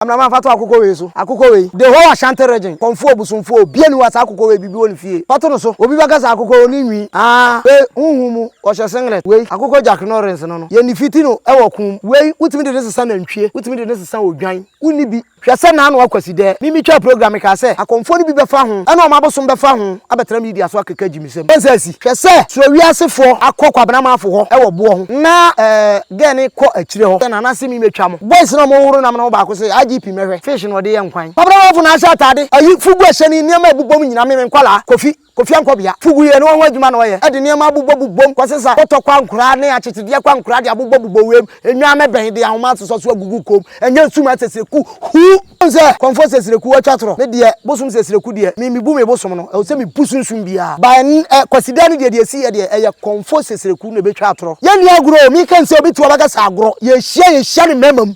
Amena ma fa to akokɔ wei so. Akokɔ wei, the whole Ashanti region, Kɔmfoɔ, Bosomfoɔ, obiara nni hɔ a saa akokɔ wei bibi wɔ ne fie. Fa to no so. Obi bɛka sɛ akokɔ wɔ ne nwi. Haa, wei, honhom mu, ɔhyɛ singlet. Wei, akokɔ Jack Norrins no no, yɛn ne fiti no wɔ ko mu. Wei, wotumi de no sesa nantwie, wotumi de no sesa odwan. Wonni bi. Hwɛ sɛ n'ano akwasidɛɛ. Me metwaa program, mekaa sɛ, Akɔmfoɔ no bi bɛfa ho, ɛna wɔn abosom bɛfa ho abɛtra media so akeka gyimi. nsam. Ɔn saa si. Hwɛ sɛ suro wiase foɔ akɔ kwabena manfo hɔ wɔ boɔ ho na eh girl no kɔ akyire hɔ sɛ nana se me me twa mo boys no a ɔmo hohoro nam no ho baako se IGP mɛhwɛ fish no ɔde yɛ nkwan kwabena manfo na ahyɛ atade ayi fugu ɛhyɛ ne nneɛma ɛbobɔ mu nyina me me nkwadaa kofi kofi ankɔbea fugu yɛ no ɔho adwuma na ɔyɛ ɛde nneɛma abobɔ bobɔ mu kɔsesa bɔtɔ kɔ ankoraa ne akyekyedeɛ kɔ ankoraa de abobɔ bobɔ wei mu enwaa mɛbɛn de ahoma asosɔ so agugu kom Ɛnyɛ sum asɛsrɛku hu. Wohu sɛ kɔmfoɔ sɛsrɛku atwa torɔ. Me deɛ bosom sɛsrɛku deɛ me mebu me bosom no ɛwɔ sɛ me bu sunsum biaa but ɛnnɛ kwasida no deɛ deɛ ɛsi yɛ deɛ ɛyɛ kɔmfoɔ sɛsrɛku na ɛbɛtwa atorɔ. Yɛnni agorɔ o me ka nsɛ obi to ɔbɛka sɛ agorɔ yɛhyia yɛhyia no mmarima mu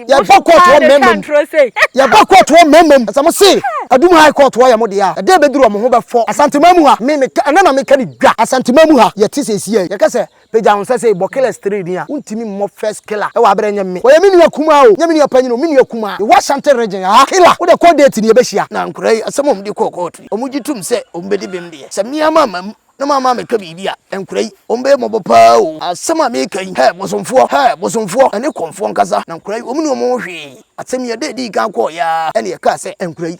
yɛbɔ court wɔ mmarima mu yɛbɔ court wɔ mmarima mu sɛ mo se adum high court hɔ yɛ mo deɛ a ɛda ɛbɛduru ɔmo ho bɛfɔ Asanteman mu ha me meka ɛnnɛ na meka no dwa Asanteman mu ha yɛte sɛ ɛsi yɛ yɛka sɛ Pagya wo nsa sei bɔ killers three din a wontimi mmɔ first killer wɔ aberɛ nyɛ me ɔyɛ me nua kumaa o nyɛ me nua panyin o me nua kumaa mewɔ Ashanti region haa killer wode kɔ date no yɛbɛhyia. Na nkwadaa yi asɛm a wɔde kɔɔ kɔɔto yi, wɔn gye tom sɛ wɔn bɛdi bem deɛ, sɛ me ara mamma mu na mamma ammɛka biribi a, nkwadaa yi, wɔn bɛyɛ mmɔbɔ pa ara o. Asɛm a mereka yi, hɛ, bosomfoɔ, hɛ, bosomfoɔ, ɛne kɔmfoɔ nkasa, na nkwadaa yi, wɔn nni wɔn ho hwee. Asɛm yi, ɛda a ɛdii kan kɔeɛ ara, ɛna yɛkaa sɛ, nkwadaa yi,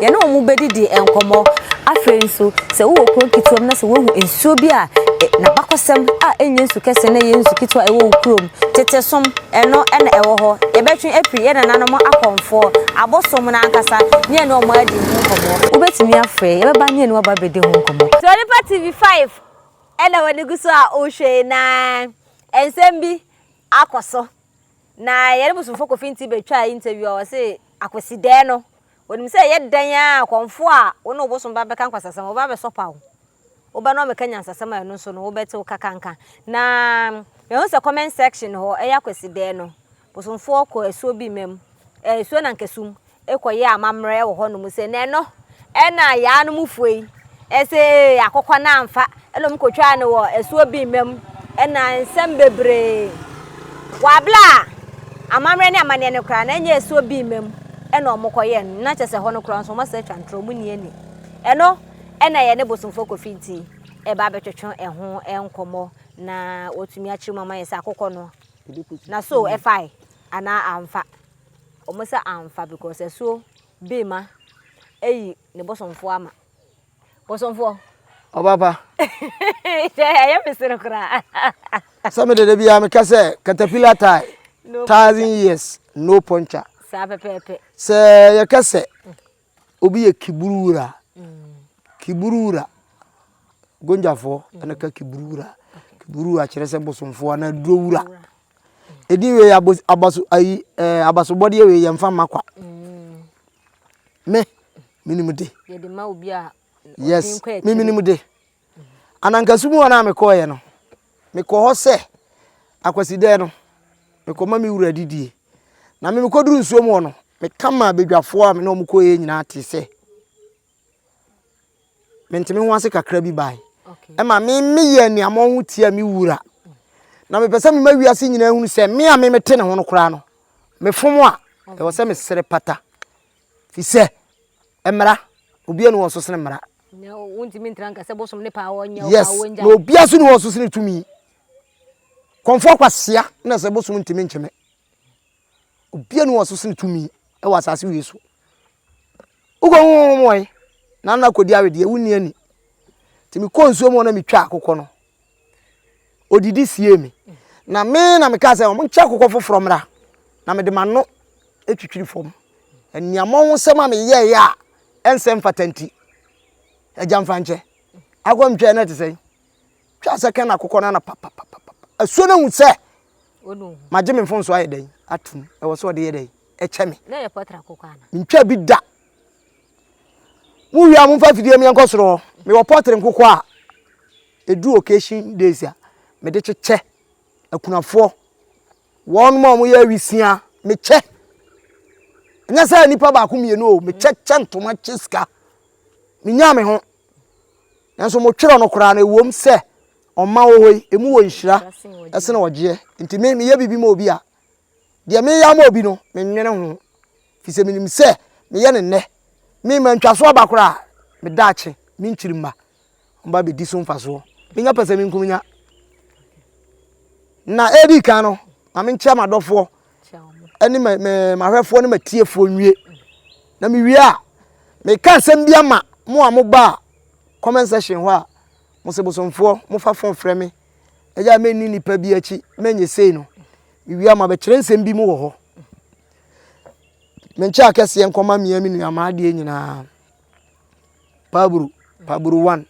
Yɛne wɔn bɛdidi nkɔmmɔ. Afei nso, sɛ wowɔ kuro nketewa mu na sɛ woahu nsuo bi a n'abakɔsɛm a ɛnyɛ nsu kɛseɛ na ɛyɛ nsu ketewa a ɛwɔ wo kurom, tete som, ɛno na ɛwɔ hɔ. Yɛbɛtwe afiri yɛn nananom akɔmfoɔ, abosom no ankasa, ne yɛne wɔn adi ho nkɔmmɔ. Wobɛtumi afrɛ, yɛbɛba ne yɛne wo aba abɛdi ho nkɔmmɔ. Sɛ onipa TV 5 na w'ani gu so a wohwɛ yi na nsɛm bi akɔ so. Na yɛne Bosomfo Kofi Nti bɛtwaa interview a ɔse Akwasidɛɛ no Onim sɛ ɛyɛ dɛn ara a akɔmfo a wo ne wo bosom ba bɛka nkwasasɛm no, wɔbɛba abɛsɔpa wo. Wo ba no abɛka nyansasɛm a ɛno nso no, wobɛtew kakanka. Na mahu sɛ comment section hɔ, ɛyɛ Akwasidae no, bosomfoɔ kɔ asuo bi mmam, eh, asuo Nankasum, kɔyɛ amammerɛ wɔ hɔnom sɛ, na ɛno na Yaa no mufoɔ yi sɛ akokɔ no amfa Nna wɔkotwaa no wɔ asuo bi mma mu na nsɛm bebree wɔ abla a amammerɛ ne amanneɛ no koraa na ɛnyɛ asuo bi mma mu na wɔkɔyɛɛ no na kyɛ sɛ hɔ no koraa nso wɔasa atwa ntorɔ wɔnni ani ɛno na ɛyɛ ne bosomfoɔ kofi nti ɛba abɛtwetwe ɛho nkɔmmɔ na wɔtumi akyerɛ mu ama yɛ sɛ akokɔ no na so ɛfae anaa amfa wɔn sɛ amfa because asuo bi mma ɛyi ne bosomfoɔ ama bosomfoɔ ɔba pa ɛyɛ me sere koraa sɛ me dede biara meka sɛ caterpillar tie thousand years no puncture saa pɛpɛɛpɛ sɛ yɛka sɛ obi yɛ kiburu wura kiburu wura gonjafoɔ ɛna ka kiburu wura kiburu wura kyerɛ sɛ bosomfoɔ anaa duro wura Edin wei abos abaso ayi ɛɛ abasobɔdeɛ wei yɛn fa ma kwa. Mm. Me minimu de. Yɛde ma obi a. Yes me minimu de. Anankasu mu hɔ na mekɔɔyɛ no mekɔ hɔ sɛ akwasidɛɛ no mekɔma me wura didie na me mekɔduru nsuo mu hɔ no meka maa badwafoɔ a me ne wɔn kɔɔyɛ nyinaa te sɛ mente me ho ase kakra bi bae ɛma me meyɛ anuammɔ ho tia me wura na mepɛ sɛ mema wiase nyinaa hunu sɛ me a me mete ne ho no koraa no mefom a ɛwɔ sɛ mesere pata fi sɛ mmara obi ani wɔ so sene mmara yes na obi aso ne wɔ so sene tumi kɔmfoɔ kwasia na sɛ bosom ntumi nkyeme Obiara nni wɔn so sene tumi wɔ asase wei so. Wokɔhu honhom wɔn na na kɔdi awedeɛ, wonni ani. Nti mekɔɔ nsuo mu hɔ na metwaa akokɔ no. Ɔdidi siee me. Na me na mekaa sɛ wɔn nkyɛ akokɔ foforɔ mmra na mede m'ano atwitwiri fam. Aniammɔ ho sɛm a meyɛeɛ a ɛnsɛ mfata nti, agya mfa nkyɛ. Akokɔ no metwaeɛ na ɛte sɛn? twa sɛ kɛn na akokɔ no ana papapapapa asuo no hu sɛ magye me mfonso ayɛ dɛn atom ɛwɔ sɛ ɔde yɛ dɛn ɛkyɛ me mentwa bi da mowie a momfa afidie mi ɛnkɔ soro hɔ mewɔ pɔtre nkokɔ a ɛdu occasion days a mede kyekyɛ akunafoɔ wɔn ma wɔyɛ awisia mekyɛ ɛnyɛ sɛ nipa baako mmienu o mekyɛ kyɛ ntoma kyɛ sika menyaa me ho nanso motwerɛ no koraa no ɛwom sɛ ɔma wɔ hɔ yi ɛmu wɔ nhyira ɛsene ɔgyeɛ nti me meyɛ biribi ma obi a deɛ meyɛ ama obi no menwene ho fi sɛ menim sɛ meyɛ ne nnɛ me ma ntwa so aba koraa me daakye me nkyiri mma ɔmba bɛdi so mfasoɔ menya pɛ sɛ menkum nya na ɛdi kan no ma menkyerɛ m'adɔfoɔ ne m'ahwɛfoɔ ne m'atiefoɔ nwie na mewie a meka nsɛm bi ama mo a mobaa comment section hɔ a mo se bosomfoɔ mofa fon frɛ me ɛyɛ a menni nnipa bi akyi menyɛ sei no mewie a mabɛkyerɛ nsɛm bi mu wɔ hɔ menkyɛ akɛseɛ nkɔma mmea me nuamaa adeɛ nyinaa paburu paburu one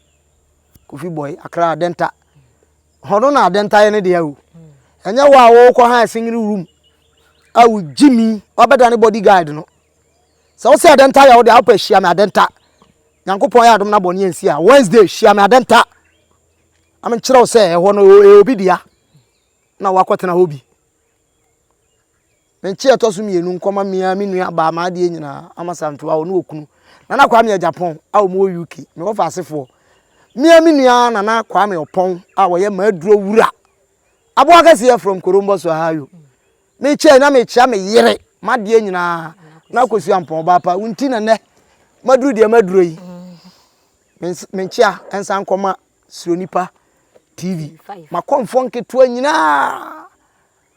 kofi boy akra dɛnta Hɔ no na ade ntaeɛ no deɛ o. Ɛnyɛ hɔ a wokɔ ha ɛsenyere room a wogye mi wabɛda ne body guide no. Sɛ wo sɛ ade nta yɛ wo deɛ wopɛ hyia me ade nta. Nyankopɔn yɛ adom na bɔne ansi a Wednesday hyia me ade nta. Ame nkyerɛ wo sɛ ɛhɔ no ɛyɛ obi dea na wakɔtena hɔ bi. Me nkyeɛ a ɛtɔ so mmienu nkɔma me ara me nua baa m'adeɛ nyinaa ama Sanfewa ɔne okunu Nana Kwame Agyapong a wɔn wɔ UK me wɔfa asefoɔ me ara me nua Nana Kwame Ɔpɔn a wɔyɛ m'aduro wura aboa kɛseɛ from Korombos Ohio me kyɛɛ na me kyea me yere m'adeɛ nyinaa na Akosua Ampɔn ɔbaapa wo nti na nnɛ maduro deɛ maduro yi me nkyea ɛnsa nkɔma Suro Nipa TV makɔmfoɔ nketewa nyinaa.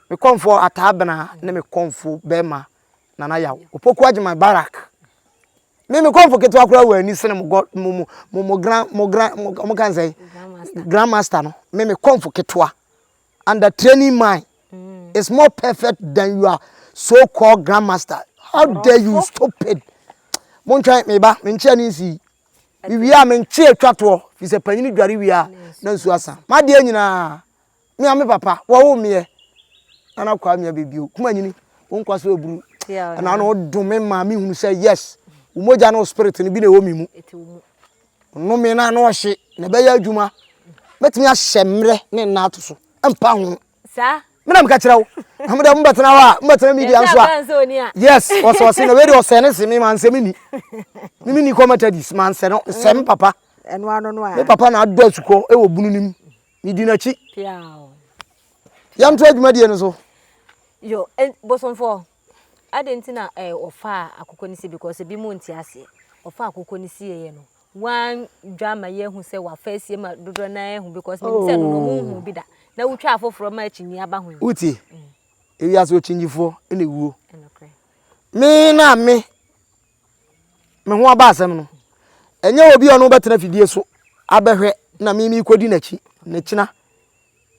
Me kɔmfoɔ Atta Abena ne me kɔmfo bɛrima Nana Yaw, Opoku Agyeman Barak. Me me kɔmfo ketewa koraa wɔ ani sene mo god mo mo mo mo gran mo gran mo mo kan sɛ grandmaster no me me kɔmfo ketewa and the training mind mm. is more perfect than your so called grandmaster how dare you stupid mo ntwɛn me ba me nkyɛn ne nsi me wie a me nkye atwa toɔ fi sɛ panyin dware wie a na nsu asa madeɛ nyinaa Me a me papa wɔwo me ɛ na na kwa me ɛ baby o kuma nyini wo nkwa so eburu ɛna no dom me ma me hunu sɛ yes wo mogya no spirit no bi na ɛwɔ me mu no me na no ɔhye na ɛbɛyɛ adwuma mɛtumi ahyɛ mmerɛ ne nna ato so mpa ho me na meka kyerɛ wo na mede mbɛtena hɔ a mbɛtena media nso a yes ɔsɛ ɔse na wei de ɔsɛ ne se me mansɛ me ni me me ni kɔmatadis mansɛ no sɛ me papa me papa na adɔ asukɔ ɛwɔ bunu no mu Medi n'akyi. Yɛntoa dwumadie no so. Yo, bosomfoɔ, adɛn nti na ɔfaa akokɔ no sie because ebi mu nte aseɛ. Ɔfaa akokɔ no sieeɛ no, woandwa ma yɛahu sɛ wafa asie ma dodoɔ no ara ahu because menim sɛ ɛno na ɔmo nhuu bi da. Na wotwa afoforɔ ma akyinnyeɛ aba ho yi. Wotie? Ewiase ɔkyinnyefo na ewuo. Me na me. me ho aba asɛm no, ɛnyɛ obi a ɔno bɛtena fidie so abɛhwɛ na me mekɔdi n'akyi ne kyena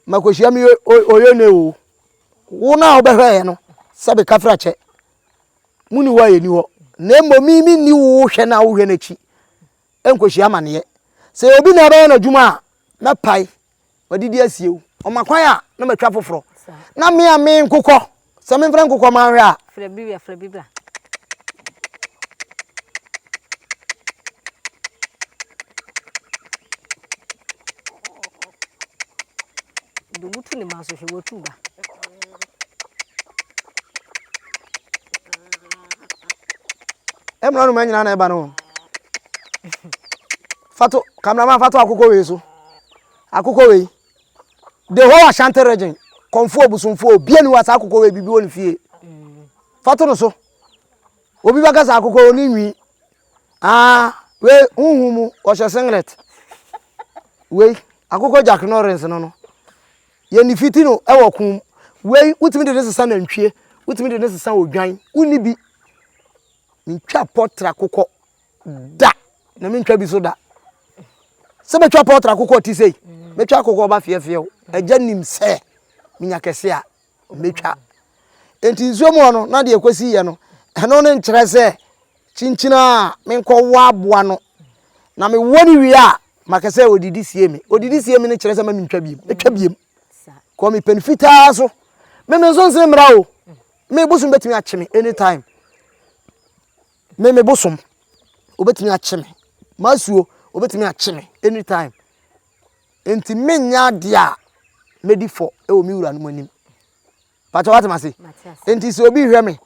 makɔhyia me ɔyɛ ne o wo no a wobɛhwɛɛ no sɛ beka fra kyɛ mu ni hɔ a yɛni hɔ na mmom me menni wo hwɛ no a wohwɛ no akyi nkɔhyia amaneɛ sɛ obi na ɛbɛyɛ no adwuma a mɛpae Wadidi asie o. Ɔma kwan a na matwa foforɔ. Na me a me nkokɔ sɛ memfrɛ nkokɔ ma nhwɛ a. Frɛ bi wia frɛ bi bra. De wotu ne ma so hwɛ watu ba. Ɛmuna no ma nyina na ɛba no. Fato camera man fato akokɔ wei so akokɔ wei the whole Ashanti region kɔnfoɔ busumfoɔ obia ni wa saa akokɔ wei bibi wɔ ne fie fato no so obi bɛka saa akokɔ wɔ ne nwi aa wei huhu mu ɔhyɛ singlet wei akokɔ Jack Norris no no yɛ ne fiti no ɛwɔ kum wei wotumi de ne sesa nantwie wotumi de ne sesa odwan wonni bi mentwa pɔtra akokɔ Da! Na mentwa bi so da. Sɛ mɛtwa pɔtra akokɔ ɔte sei, mɛtwa akokɔ ɔba feɛfeɛ o. Agya nim sɛ menya kɛse a, mɛtwa. Enti nsuo mu hɔ no, na deɛ ɛkɔsi yɛ no, ɛno ne nkyerɛ sɛ kyinkyin a menkɔwɔ aboa no, na mewɔ no wie a, maka sɛ ɔdidi sie me. Ɔdidi sie me no kyerɛ sɛ ma mentwa biem. Mɛtwa biem. Kɔ me pɛn fitaa so. Me me nso nse mmra o. Me bosom bɛtumi akye me anytime. Me me bosom obetumi akye me m'asuo obetumi akye me anytime nti menyɛ adeɛ a medi fɔ wɔ me wura no mu anim pàtó wate ma se nti sɛ obi hwɛ me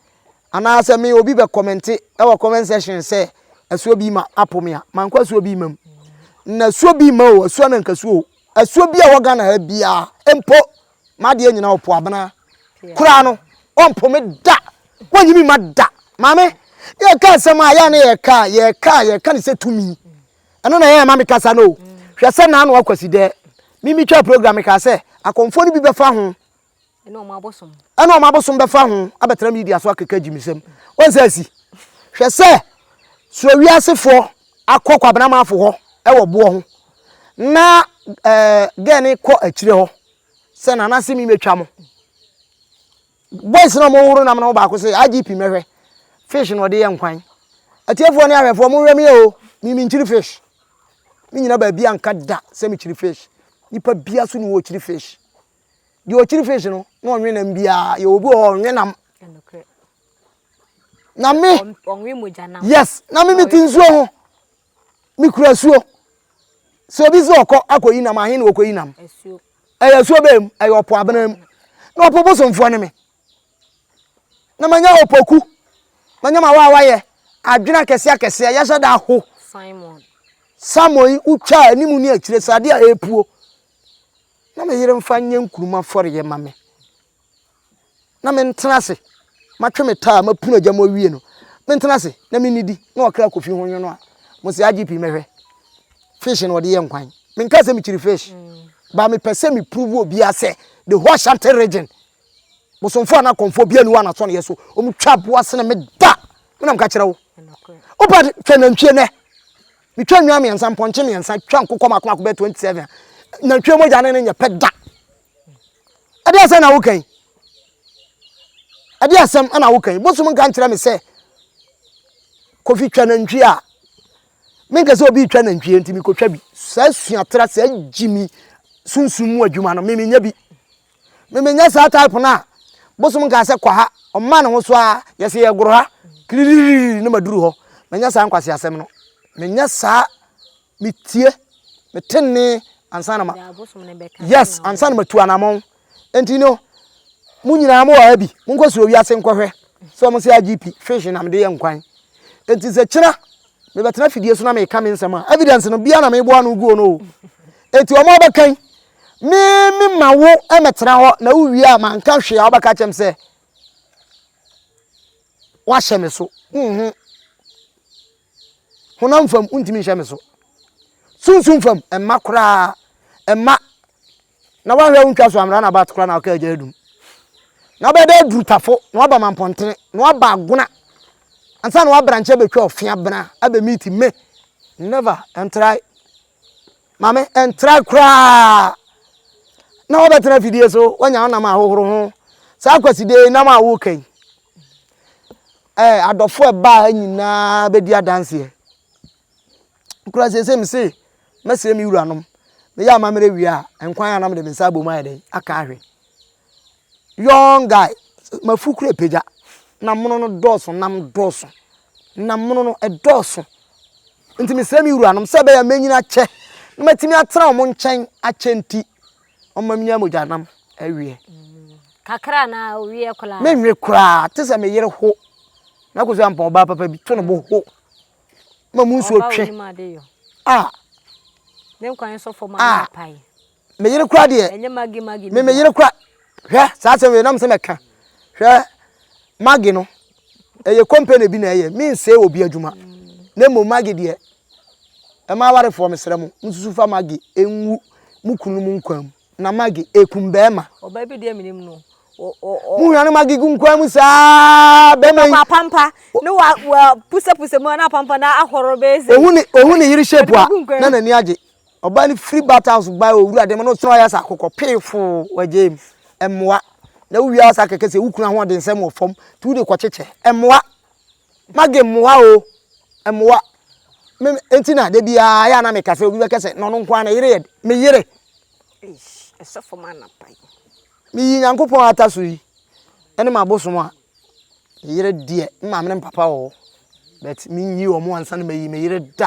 anaasɛ me obi bɛ kɔmɛnte wɔ comment section sɛ asuo bi ma apo me a mankɔ asuo bi ma mu na asuo bi ma o asuo na nkasuo o asuo bi a wɔ Ghana ha biara mpo M'adeɛ nyinaa ɔpo abena koraa no ɔmpo me da wɔnyi me ma da maame yɛka nsɛm a yɛa ne yɛka yɛka yɛka ne sɛ tumi ɛno na yɛma me kasa no hwɛ sɛ na ano akwasi dɛ mimi twa program ka sɛ akɔmfoɔ no bi bɛfa ho ɛna ɔmo abosom bɛfa ho abɛtena media so akeka gyimisɛm wɔn sɛ asi hwɛ sɛ suro wiasefoɔ akɔ Kwabena Amanfo hɔ wɔ boɔ ho na girl no kɔ akyire hɔ sɛ nana se me mɛtwa mo boys na wɔhoro nam no baako sɛ IGP mɛhwɛ fish na ɔde yɛ nkwan atiefoɔ ne ahwɛfoɔ mohwɛ me o me menkyiri fish me nyina baabi anka da sɛ mekyiri fish nipa bia so ne wɔkyiri fish deɛ ɔkyiri fish no na ɔnwe nam biaa yɛwɔ bi wɔ hɔ ɔnwe nam na me yes na me mete nsuo ho mekura suo sɛ obi sɛ ɔkɔ akɔyi nam ahe na wɔkɔyi nam ɛyɛ asuo bɛɛ mu ɛyɛ ɔpo abena mu na ɔpo bosomfoɔ ne me na manya ɔpoku manya ma waawayɛ adwene akɛseɛ akɛseɛ yɛhyɛ da ho samon yi wotwa anim ne akyire sɛ adeɛ a ɛpuo na meyere mfa nyɛ nkuruma fɔreyɛ ma me na mentena ase, matwe me taa a mapunu agya mu awie no, mentena ase na mennidi na ɔkra kɔ fi ho nwono a, mo se IGP mɛhwɛ? Fish na ɔde yɛ nkwan. Menkaa sɛ mekyiri fish. But mepɛ sɛ me prove obiara sɛ the whole Ashanti region, bosomfoɔ anaa akɔmfoɔ biara nni hɔ a n'asɔneɛ so. Wɔtwa aboa sene me da! Me na meka kyerɛ wo. Wopa hwɛ nantwie nnɛ. Metwa nnwan mmiɛnsa, mpɔnkye mmiɛnsa, twa nkokɔ mmaako mmaako bɛyɛ 27 a, nantwie mogya ne no nyɛ pɛ da! ɛde asɛm na woka yi ɛde asɛm na woka yi bosom nka nkyerɛ me sɛ kofi twa nantwie a menkɛ sɛ obi twa nantwie nti mekɔtwa bi saa suatra saa gyimi sunsum mu adwuma no memenya bi memenya saa type no a bosom nka sɛ kɔ ha ɔma ne ho so a yɛsɛ yɛgoro ha kiririri ne maduru hɔ menya saa nkwase asɛm no menya saa metie, mete nne ansa na ma, yes, ansa na matu anamɔn. Enti no, mo nyinaa mo wɔ ha bi, monkɔ soro wiase nkɔhwɛ sɛ wɔn sɛ IGP fish na mede yɛ nkwan. Enti sɛ kyena mebɛtena fidie so na meka me nsɛm a, evidence no bia na meboa no guo no o. Enti wɔn abɛkan, me me ma wo mɛtena hɔ na wowie a manka hwee a wobɛka kyɛm sɛ wahyɛ me so. Mm-hmm. Honam fam, wontumi nhyɛ me so. Sunsum fam, ɛmma koraa. Ɛmma. Na woanhwɛ a wontwa so ammra n'abat koraa na ɔkaa agya adum. Na wobɛyɛ dɛ adurutafo, na woaba mampɔntene, na woaba agona, ansa na woabranche abɛtwa ɔfea bena abɛmeeti me. Never, ɛntrae. Maame, ɛntra koraa na wobɛtena afidie so, woanya wo nam ahohoro ho. Saa kwasidee nam a woka yi, ɛɛ adɔfo ɛbaa ha nyinaa bɛdi adanseɛ. Kura sese me se, mɛsrɛ me wuranom, meyɛ amammerɛ wie a, nkwan a na mede me nsa abom ayɛ dɛn aka ahwɛ. young guy mafu kura pagya na mono no dɔɔso nam dɔɔso na mono no ɛdɔɔso nti mesrɛ me wuranom sɛ ɛbɛyɛ mɛnyini akyɛ na matumi atena wɔn nkyɛn akyɛ nti ɔma menya mogya nam awie kakra na owie koraa menwe koraa te sɛ me yere ho na kɔsi ampa ɔbaa papa bi to no bo ho ma mu nsuo twe a ne nkwan sɔfo ma no apae me yere kora deɛ ɛnyɛ magi magi me me yere kora hwɛ saa asɛm wei nam sɛ mɛka hwɛ magi no ɛyɛ company bi na ɛyɛ me nsee wɔ bi adwuma na mmom magi deɛ ɛma awarefoɔ mesrɛ mo mususu fa magi ɛnwu mu kunu mu nkwa mu na magi ɛkum bɛɛma ɔbaa bi deɛ menim no muhwɛ no magi gu nkwa mu saa bɛma yi apampa ne wa wa pusa pusa mu na apampa na ahoro bɛyɛ sɛ ohun ne ohun ne yiri shape a na n'ani agye Ɔbaa no firi bat house bae wɔ wura dɛm na ɔsan yɛ sɛ akokɔ pee foo wɔ James. Ɛmmoa. Na wo wia asa kɛkɛ sɛ wo kunu ahoɔdensɛm wɔ fam nti wode kɔ kyekyɛ. Ɛmmoa. Maggie mmoa o. Ɛmmoa. Me enti na da biara yɛ a na meka sɛ obi bɛka sɛ na ɔno nko ara ne yere yɛ de. Me yere. Eish, ɛsɛ fam anapa yi. Meyi Nyankopɔn ata so yi ɛne m'abosom a, me yere deɛ me maame ne me papa wɔ hɔ but menyi wɔn ansa na mayi me yere da.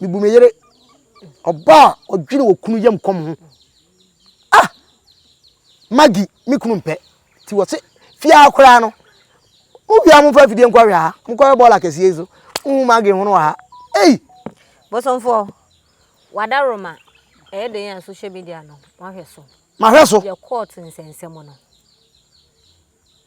Mebu me yere. Ɔbaa a ɔdwene wɔ kunu yam kɔm ho. Ah! Maggie, me kunu mpɛ. Ti wɔ se, fiaa koraa no. Mo wia mo fa afidie nkɔ hwɛ ha. Mo kɔhwɛ bɔɔla kɛseɛ yi so. Wohu Maggie ho no wɔ ha. Ei! Bosomfoɔ, w'adaworoma ɛyɛ dɛn a social media no wahwɛ so? Mahwɛ so. Yɛ court nsɛnsɛm no.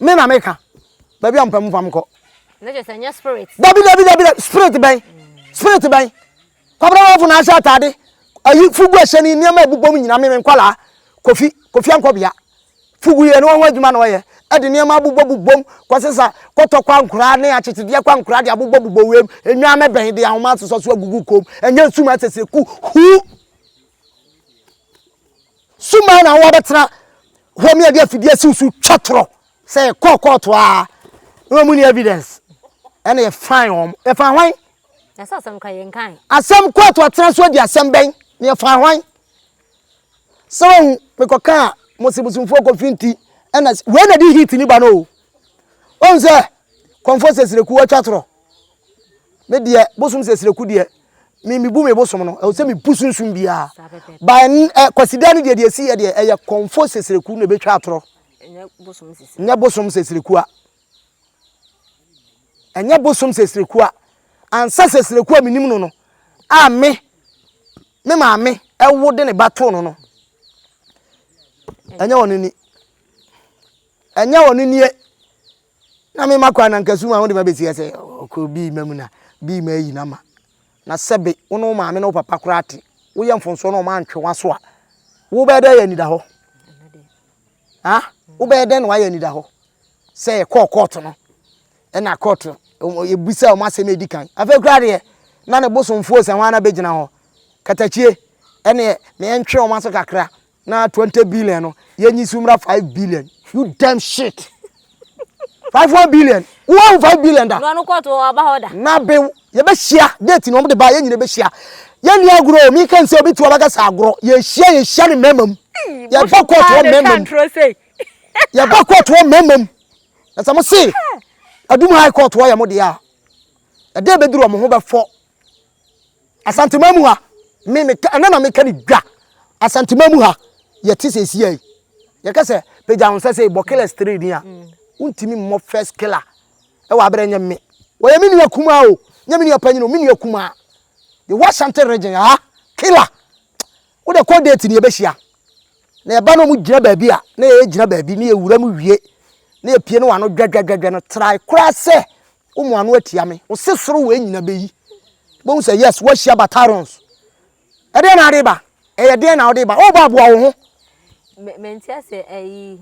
Me na me ka. Baby ampa mu fam kɔ. Ne kyɛ sɛ nyɛ spirit. Dabi dabi dabi dabi spirit bɛn. Spirit bɛn. Kwabra wafo na ahyɛ atade. Ayi fugu ahyɛ ni nneɛma ebubom nyina me me nkwalaa. Kofi kofi ankɔbea. Fugu yɛ no ho adwuma na ɔyɛ. Ɛde nneɛma abobɔ bobom kɔsesa kɔtɔ kwa nkura ne akyetedeɛ kwa nkura de abobɔ bobɔ wem. Enwaa mɛbɛn de ahoma asosɔ so agugu kom. Ɛnyɛ nsum asese ku huu. Suma na wɔn abɛtena hɔ mi a de afidie asi wo so twa torɔ sɛ kɔɔ kɔɔto a na wɔn ni evidence ɛna yɛ fan wɔn yɛ fan hwan. Yasa asɛm kora yɛ nkan. Asɛm kɔɔto atena so adi asɛm bɛn na yɛ fan hwan. Sɛ wɔn mekɔ kaa mo se bosomfoɔ kɔfi nti ɛna wei na di heat ni ba no o. Wɔn sɛ kɔnfɔ sɛ sirekuo atwa torɔ. Me deɛ bosom sɛ sreku deɛ me mebu me bosom no ɛwɔ sɛ mebu sunsun biara ba ɛ kwasida no deɛ deɛ ɛsi yɛ deɛ ɛyɛ kɔnfo sɛ sreku na ɛbɛtwa atorɔ nyɛ bosom sɛ srekua ɛnyɛ bosom sɛ srekua ansa sɛ sreku a menim no no a me me maame ɛwo de ne ba too no no ɛnyɛ wɔn ni ɛnyɛ wɔn nie Na me makɔ anankasu mu a wode me abɛsi ha sɛ ɔkɔ bii ma mu na bii ma ayi no ama. Na sɛbe wo ne wo maame ne wo papa koraa te, woyɛ mfomsoɔ na wɔantwe w'aso a, wobɛyɛ dɛn ayɛ anidahɔ? Ha? Wobɛyɛ dɛn na woayɛ anidahɔ? Sɛ yɛkɔɔ kɔɔto no, ɛna kɔɔto, yɛbisa wɔn asɛm a ɛdi kan. Afei koraa deɛ, na ne bosomfoɔ sɛ hwan na bɛgyina hɔ. Katakyie, ɛneɛ, ma yɛntwe wɔn aso kakra. Na twenty billion no yɛnyi so mmra five billion you damn shit five one billion wo ahu five billion da. Nua no kɔɔto wɔ aba hɔ da. Na be yɛbɛhyia date na wɔn de ba yɛn nyina bɛhyia yɛnni agorɔ o mi ka nsɛ obi tu abakasa agorɔ yɛhyia yɛhyia ne mɛɛma mu yɛbɔ kɔɔto wɔ mɛɛma mu yɛbɔ kɔɔto wɔ mɛɛma mu na sɛ mo se adum high court wɔ yɛ mo deɛ a ɛdɛ bɛduru wɔn ho bɛfɔ. Asanteman mu ha, me meka ɛna na meka ne dwa. Asanteman mu ha, yɛte sɛ esi yɛ. Yɛka sɛ pagya ho sɛ sɛ bɔ killer straight ni a, wontumi mmɔ first killer. Ɛwɔ abere nyɛ me. Wɔyɛ me nua kumaa o, nyɛ me nua panyin o, me nua kumaa. The whole Ashanti region ha, killer. Wo de kɔ date ni yɛbɛhyia. Na yɛba na wɔn gyina baabi a, na yɛyɛ gyina baabi, na yɛwura mu wie. Na yɛpie na wɔn ano dwadwadwadwa no, try koraa sɛ Wo mo ano atia me. Wo se soro wei nyina bɛyi. Wobɛhu sɛ yes woahyia battalions. Ɛdeɛn na wode ba? Ɛyɛ deɛn na wode ba? Ɔɔba aboa wo ho. Me mente ase ɛyi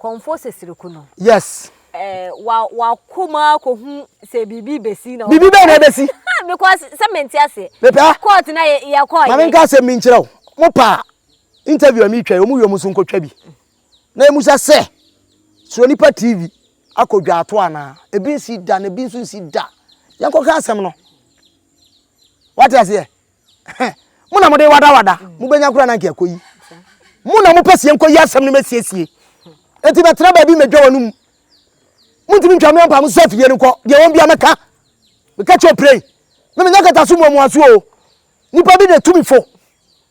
kɔnfo sesiriko no. Yes. Eh, wa wa koma kohu se bibi besi na. Bibi bɛn na ebesi. Because sɛ mente ase. Mepɛ. Court na yɛ yɛ kɔ. Maame nka asɛm bi nkyerɛ wo. Mo pa interview a mi twa yi, wɔn wie wɔn nso nkɔ twa bi. Na emmusa sɛ, Suro Nipa TV akɔ dwaato anaa? Ebi nsi da na ebi nso nsi da. Yɛnkɔka asɛm no. Wate aseɛ? Mo na mode wadawada. Mobɛnya koraa na anka ɛkɔ yi. Mo na mopɛ sɛ yɛnkɔ yi asɛm no mɛsiesie. Enti bɛtena baabi mɛdwa wɔn mu. Montumi ntwa me ɔmpa mo sɛ fie no kɔ. Deɛ wɔn bia mɛka. Meka kyɛ ɔpirei. Me menya kata so muamua so o. Nipa bi de tumi fo.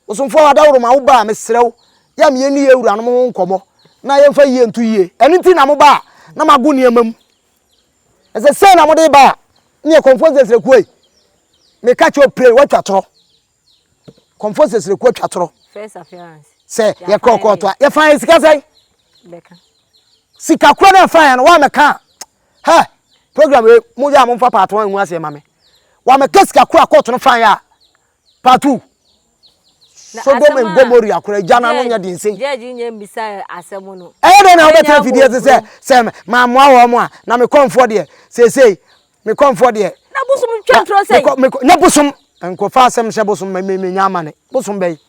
Ɔsomfoɔ Ada Woro ma wo ba a, mesrɛ wo, yɛ a me yɛnni yɛn awuranom ho nkɔmmɔ na yɛmfa yie nto yie. Ɛno nti na moba a, na mago nneɛma mu. Ɛsɛ sei na mode ba a, neɛ Confucius Srekuo ei, meka kyerɛ wo pray, woatwa torɔ. Confucius Srekuo atwa torɔ. First appearance. Sɛ yɛkɔkɔɔtɔ a, yɛfa yɛn sika sɛn? Bɛka. Sika korɔ na yɛfa yɛn no, woammɛka a, Hɛ! Program wei, mo yɛ a mo mfa part one ngu aseɛ ma me. Wa me ka sika koro a court no fan yɛ a, part two. Sodom and Gomoria koro agya na no nyɛ den sei. Judge nyɛ mbisa asɛm no. Ɛyɛ dɛn na wo bɛ tena fidie ase sɛ, sɛ ma mmoa wɔn a, na me kɔnfoɔ deɛ, seesei, me kɔnfoɔ deɛ. Na bosom ntwa ntorɔ sɛn? Na bosom, nko fa asɛm hyɛ bosom ma me nya amane. Bosom bɛn?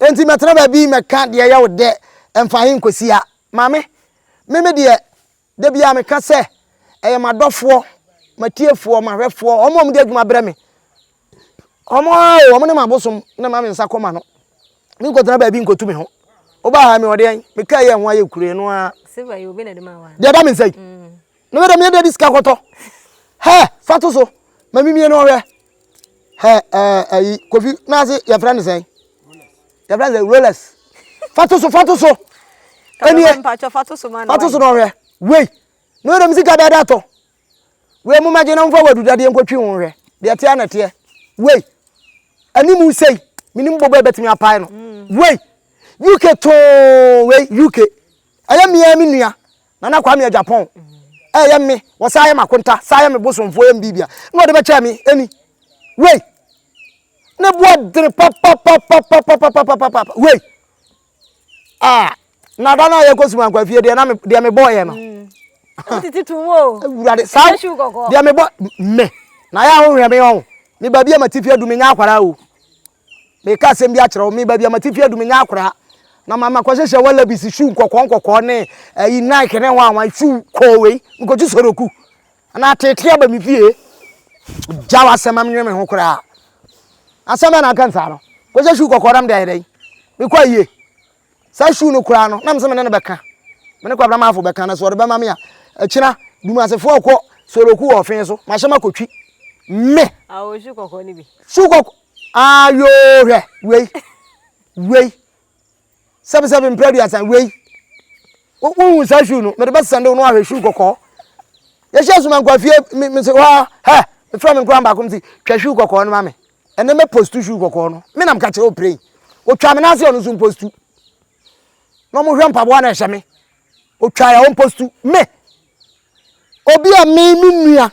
Enti mɛtena baabi mɛka deɛ ɛyɛ wo dɛ ɛmfa he nkɔsi ha? Maame, Me me deɛ, da biara meka sɛ ɛyɛ m'adɔfoɔ, m'atiefoɔ, m'ahwɛfoɔ, wɔn a wɔde adwuma brɛ me. Wɔn ara o, wɔn ne m'abosom na ɛma me nsa kɔ m'ano. Menkɔtena baabi nkɔtu me ho. Wobaa ha yi, mewɔ deɛn? Mekaa yi a ɛho ayɛ kuro yi, ɛno ara. Silver yi, obi na ɛde maa wo anaa? Deɛ ɛda me nsa yi. Mm. Ne bɛ dɛ meyɛ dɛ de sika kɔtɔ hɛ fa to so ma mimie no ɔhwɛ hɛ ɛɛ ɛyi kofi n'ase yɛfrɛ ne sɛn yɛfrɛ ne sɛ rolex fa to so fa to so ɛniɛ fa to so na ɔhwɛ wei ne bɛ dɛ me sika dada tɔ wei mo ma gye na mo fa wadu dadeɛ nkɔtwi ho hwɛ deɛ teɛ na teɛ wei ɛni mu sei mini mu bɔbɔ ɛbɛtumi apae no wei uk too wei uk ɛyɛ mmea me nua Nana Kwame Agyapong, ɛyɛ mme, wɔsan yɛ m'akonta, san yɛ me bosomfoɔ, yɛ me biribia, na wɔde bɛkyɛɛ me ɛni wei, ne boɔ dene papapapapapapapapa wei, ah, na da no a yɛkɔ suma nkwa fie deɛ na me deɛ me bɔɔyɛ no, titi tu mu o, awurade saa deɛ me bɔ me, na yɛ ahohwɛ me ɔn, me baabi a ma ti fie du me nya akwara o. Mereka asɛm bi akyerɛ wo, me baabi a m'atifi adu menya akora, na ma makɔhyehyɛ wallabies shoe nkɔkɔɔ nkɔkɔɔ ne ayi Nike ne hwan hwan shoe kɔɔ wei, mekɔtu soroku na atete aba me fie. Gya w'asɛm ma menwene me ho koraa. Asɛm bɛn na aka nsaa no? Kɔhyɛ shoe kɔkɔɔ na mede ayɛ dɛn? Mekɔ ayie. Saa shoe no koraa no, na mesɛ me ne no bɛka. Me ne Kwabena Maafo bɛka na sɛ ɔde bɛma me a, akyina Dumasefoɔ rekɔ soroku wɔ ɔfee so, mahyɛ makɔtwi. Me! Awɔ, shoe kɔkɔɔ no bi. Shoe kɔkɔɔ. Aayoo hwɛ wei wei sɛbisɛbi mpere aduasa wei wohu saa shoe no mede bɛsesa de wo no ahwɛ shoe kɔkɔɔ yɛhyɛ suma nkwafie mese hɔ a hɛ mefrɛ me nkora baako mese twa shoe kɔkɔɔ no ma me ɛnɛ mɛ postu shoe kɔkɔɔ no me nam kakyɛ ɔpirɛn ɔtwa me n'ase ɔno nso mpostu na ɔmo hwɛ mpaboa na ɛhyɛ me ɔtwa yɛ ɔmpostu me obi a me me nua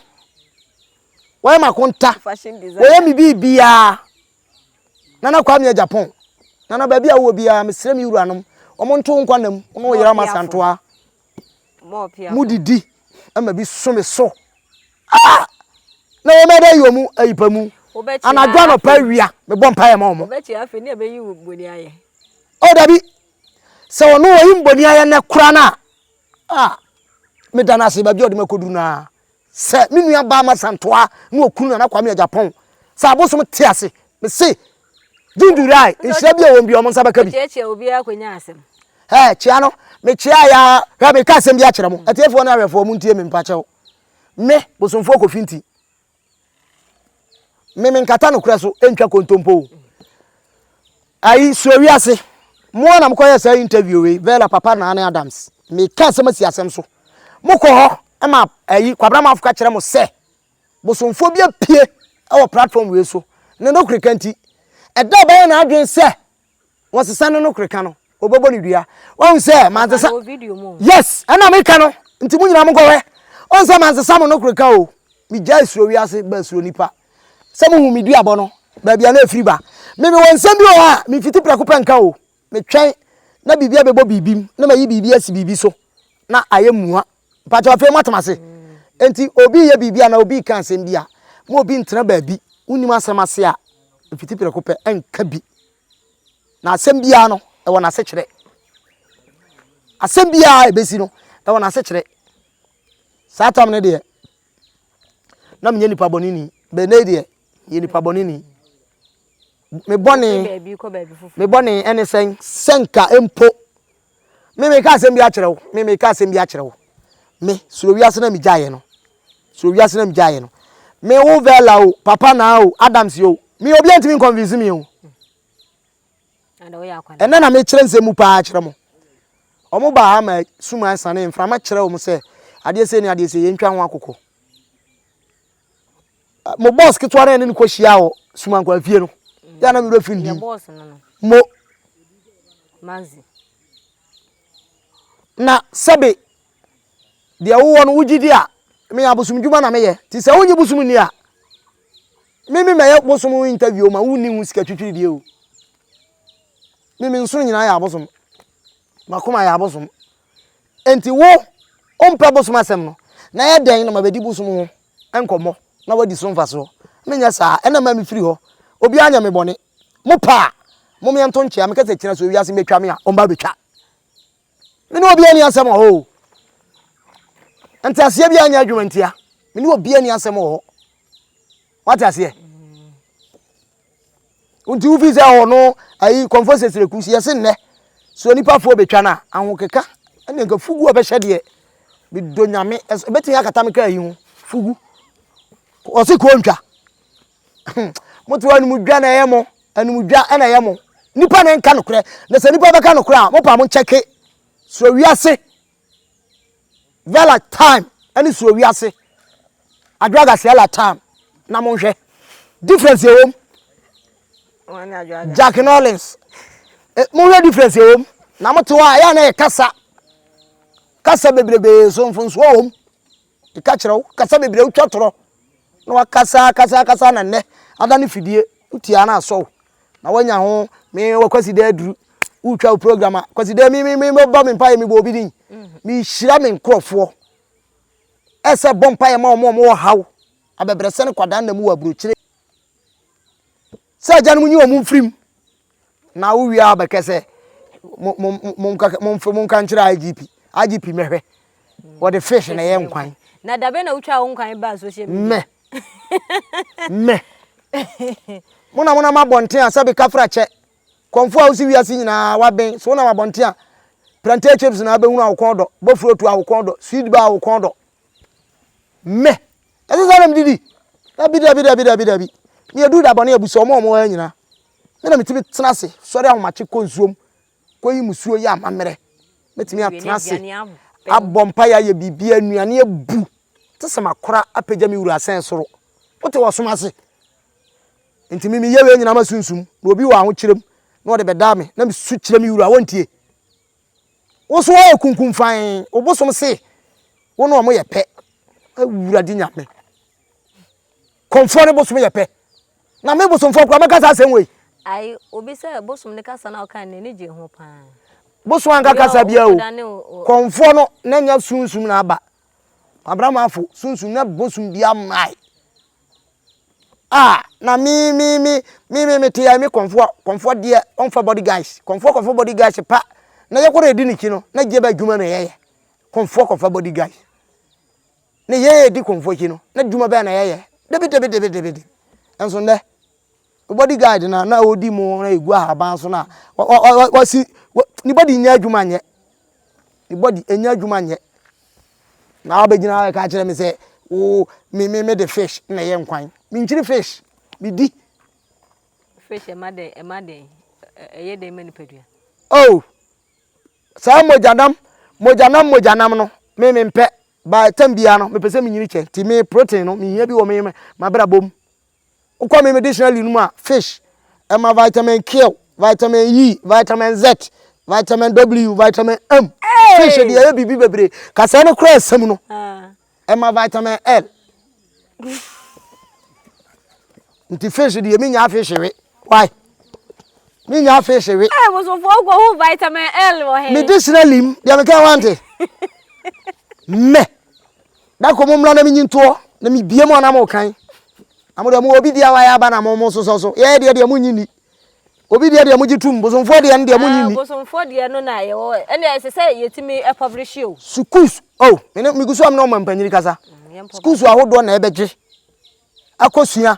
Wayɛ m'akonta. Wayɛ me biribiara. Nana Kwame Agyapong. Nana baabi a wowɔ biara mesrɛ me wuranom wɔn nto wo nkwanna mu wo ne wo yere ama santoa mu didi ma bi so me so. Ah! Na wɔn ɛdɛ yɛ wɔn ayipa mu. Anadwo anɔpa awia mebɔ mpaeɛ ma wɔn. Oh dabi sɛ wɔn wɔyi mboni ayɛ nɛ kora no a ah meda no ase baabi a ɔde makɔduru no a Sɛ me nua baa Masa Ntoa ne okunu Nana Kwame Agyapong sɛ abosom te ase. Me se June July nhyira bi a ɛwɔ mu biara wɔn nsa bɛka bi. Ɔkyeakyea obi ara kɔnya asɛm. Hɛɛ kyea no me kyeae ara hwɛ me ka asɛm bi akyerɛ mo atiefoɔ ne ahwɛfoɔ mo ntie me mpakyɛw me Bosomfoɔ Kofi Nti. Me me nkata nokorɛ so ntwa kontompo o. Ayi suo wiase. Mo ara na mokɔ yɛ saa interview wei Vella papa na ne Adams. Me ka asɛm asi asɛm so. Mo kɔ hɔ ma ayi kwabra manfo ka kyerɛ mo sɛ bosomfoɔ bi apue ɛwɔ platform wei so ne nokoreka nti. Ɛda a ɔbɛyɛ n'adwene sɛ wɔsesa no no koreka no wɔbɛbɔ no dua wɔn sɛ mansesa yes ɛna meka no nti mo nyinaa mo nkɔhwɛ wɔn sɛ mansesa mo no koreka o megyae suro wiase ba suro nipa sɛ mohu me duabɔ no baabi a na ɛfiri ba meme wɔ nsɛm bi wɔ hɔ a memfiti prɛko pɛ nka o metwɛn na biribi abɛbɔ biribi mu na mayi biribi asi biribi so na ayɛ mua Mpakyɛw afei moatem ase? Enti obi reyɛ biribi anaa obi reka asɛm bi a, ma obi ntena baabi, wonnim asɛm ase a, mfiti prɛko pɛ nka bi. Na asɛm biara no, ɛwɔ n'asekyerɛ. Asɛm biara a ebesi no, ɛwɔ n'asekyerɛ. Saa tam no deɛ, na menyɛ nipa bɔneni, bɛnɛ yi deɛ, meyɛ nipa bɔneni. Me bɔne, me bɔne ɛne sɛn? Sɛ nka mpo, me me ka asɛm bi akyerɛ wo, me me ka asɛm bi akyerɛ wo. Me, soro wiase na me gyaeɛ no, soro wiase na me gyaeɛ no. Me wo Vela o, Papa na o, Adams o, me obi antimi nconvince me o. Ɛnɛ na me kyerɛ nsɛm mu paa kyerɛ mo. Ɔmo baa ha ma sum asane mframa kyerɛ ɔmo sɛ adeɛ sei ne adeɛ sei, yɛntwa ho akokɔ. Mo bɔs ketewa no a yɛne no kɔ hyia wɔ Sumankwa fie no yɛ a na me werɛ fi ndim. Mo Manzi. Na sɛbe deɛ wowɔ no wogye di a me abosom dwuma na meyɛ nti sɛ wonye bosom nni a me me mɛyɛ bosom ho interview o ma wonni ho sika twitwiri deɛ o. Me me nsono nyinaa yɛ abosom. M'akoma yɛ abosom. Enti wo, wompɛ bosom asɛm no, na ayɛ dɛn na mabɛdi bosom ho nkɔmmɔ na woadi so mfasoɔ? Menyɛ saa, ɛnna mma mefiri hɔ. Obiara anyɛ me bɔne. Mopɛ a, momeɛ nto nkyea. Meka sɛ, Kyena sɛ ewiase bɛtwa me a, ɔmma bɛtwa. Me ne obiara nni asɛm wɔ hɔ o. Nteaseɛ biara nyɛ adwuma ntia. Me ne obiara nni asɛm wɔ hɔ. Wate aseɛ? Nti wofi sɛ wɔ no ayi Confucius na kusi yɛse nnɛ so onipa fo betwa no a ahokeka ɛne nka fugu a ɔbɛhyɛ deɛ medɔ nyame ɛbɛtumi akata me kaa yi ho fugu ɔse kɔɔ ntwa moto anum dwa na ɛyɛ mo anum dwa ɛna ɛyɛ mo nipa na nka nokorɛ na sɛ nipa bɛka nokorɛ a mo pa mo nkyɛke so wiase Vela time ɛne suro wiase adwaga sɛla time na mo nhwɛ difference ɛwom Jack Nollins eh, mo nhwɛ difference ɛwom na mo te hɔ a ɛyɛ na ɛyɛ kasa kasa bebrebee so mfonsoɔ wɔm. Meka kyerɛ wo, kasa bebree a wotwa torɔ na wakasa akasa akasa na nnɛ ada ne fidie wotia na asɔ wo na wanya ho me wɔ kwasi dɛ aduru wotwa wo program a kwasi dɛ me me me mebɔ me mpaeɛ mebɔ obi din mehyira me nkurɔfoɔ ɛsɛ bɔ mpaeɛ ma wɔn a wɔwɔ haw abɛbrɛsɛ ne kwadaa nna mu wɔ aburokyire Sɛ agyanom nyi wɔn mfiri mu na wowie a bɛkɛ sɛ monka nkyerɛ IGP IGP mɛhwɛ wɔde fish na ɛyɛ nkwan. Na dabe na wotwa wo nkwan baa social media. Mɛ mɛ mo na mo nam abɔnten a sɛbi kafra kyɛ kɔnfo a wosi wiase nyinaa waben so wonam abɔnten a plantain chips na abɛhunu a wokɔn dɔ bofuro tu a wokɔn dɔ sweet bar a wokɔn dɔ. Mɛ ɛsɛ saa na mede di. Dabi, dabi, dabi, dabi, dabi. Me adu da bɔne abu so wɔn a wɔwɔ ha nyinaa. Me na metumi tena ase, sɔre ahomakye kɔ nsuom, kɔyi musuo yɛ amammerɛ. Mɛtumi atena ase, abɔ mpaeɛ, ayɛ biribiara, nnuane abu. Te sɛ makora apagya me wura asɛn soro. Wote wɔ ɔsom ase. Nti me meyɛ wei nyinaa masunsum, na obi wɔ ahokyerɛ mu na ɔde bɛdaa me, na mesu kyerɛ me wura a, ɔntie. Wo so ayɛ kunkun fann. Wo bosom se wo ne wɔn yɛ pɛ. Awurade Nyame. Kɔmfoɔ ne bosom yɛ pɛ. Na me bosomfoɔ koraa mɛka saa asɛm wei. Ai obi sɛ bosom ne kasa no a ɔkae no n'ani gyee ho paa. Bosom anka kasa biara o. Kɔmfoɔ no na nya sunsum na aba. Abraham afo sunsum na bosom biara mmae. Ah, na me, me, me, me, me, me te ya me kɔnfoɔ, kɔnfoɔ deɛ ɔnfa body guys, kɔnfoɔ kɔnfoɔ body guys pa. Na yɛ kɔrɔ edi ne kyi no, na gye bɛ adwuma na yɛyɛ. Kɔnfoɔ kɔnfa body guys. Na yɛ edi kɔnfoɔ kyi no, na adwuma bɛyɛ na yɛyɛ. Debi debi debi debi debi. Ɛnso ndɛ. Wo body guard no a na ɔredi mo na ɛgu ahaban so no a, wa, wa, wa, wa, wasi, wa, ne body nyɛ adwuma nyɛ. Ne body ɛnyɛ adwuma nyɛ. Na wabɛgyina hɔ ɛka kyerɛ me sɛ, wo, me, me, me de fish na ɛyɛ nkwan. Menkyiri fish, medi. Fish ɛma dɛn, ɛma dɛn, ɛyɛ dɛn ma nipadua? Oh, saa mogyanam, mogyanam, mogyanam no, me mempɛ. By time biara no, mepɛ sɛ menyini kyɛ. Nti me protein no, mehia bi wɔ me, mabrabɔ mu. Wokɔ me me dictionary no mu a, fish, ɛma vitamin K, vitamin E, vitamin Z, vitamin W, vitamin M. Fish deɛ ɛyɛ biribi bebree. Kasɛɛ no koraa nsɛm no, ɛma vitamin L. Nti fish deɛ menya fish we. Why? Menya fish we. Ɛ bosomfoɔ kɔ ho vitamin L wɔ he. Me dictionary mu deɛ meka wante. Mɛ. Da kɔ mo mmra na menyi ntoɔ na mebie mo anam kan na mo deɛ mo obi deɛ wayɛ aba na mo mo sosɔ so yɛyɛ deɛ deɛ mo nyi ni obi deɛ deɛ mo gye tum bosomfoɔ deɛ no deɛ mo nyi ni. bosomfoɔ deɛ no na yɛwɔ ɛnna ɛsɛ sɛ yɛtumi publish o. sukuus o oh, mene megu so a mene ɔma mpanyini kasa mm, sukuus ahodoɔ na ɛbɛgye akɔsua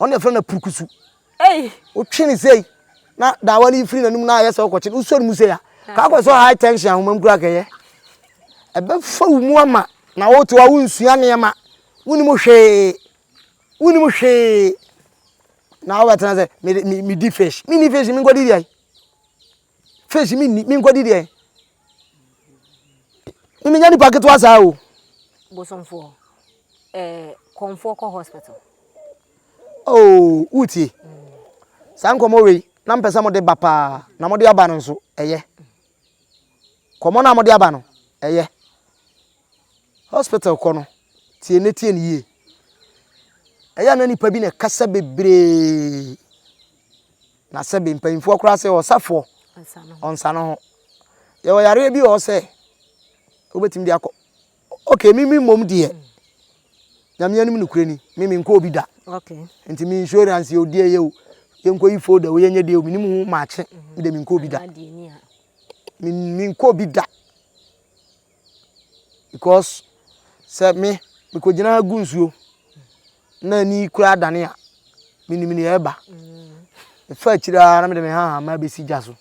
ɔno na yɛfrɛ no apurukusu wotwe ne sei na daawa no yi firi n'anim na ayɛ sɛ wokɔkye no wosɔ ne mu sei a kaa kɔ sɛ high tension ahoma mu kura kɛyɛ ɛbɛfa wo mu ama na wote hɔ a wonsua nneɛma wonim hwee wonim hwee na wobɛtena sɛ medi fish menni fish menkɔdi deɛ fish mi ni mi nkɔ di deɛ mi nya nipa ketewa saa o. bosomfoɔ ɛɛ kɔnfoɔ kɔ hospital. ooo wuti saa nkɔmɔ wei na mpɛ sɛ mo de ba paa na mo de aba no nso ɛyɛ kɔmɔ na mo de aba no ɛyɛ hospital kɔ no tie ne tie ne yie ɛyɛ na nipa bi na ɛkasa bebree. Na sɛ bɛ mpanyimfoɔ koraa sɛ ɔsafoɔ ɔnsa ne ho. Yɛwɔ yareɛ bi wɔ hɔ sɛ wobɛtumi de akɔ. Okay, mimi mmom deɛ nyame anim nokorɛ ni me menkɔ obi da. Okay. Nti me insurance yɛ odi ɛyɛ o yɛnkɔ yi folder o yɛnyɛ deɛ o menim ho maakye me de menkɔ obi da. Menkɔ obi da. because sɛ me mekɔgyina ha gu nsuo na ani koraa dane a menim ne ɛba ɛfa akyiri a na mede me hahama bɛsi gya so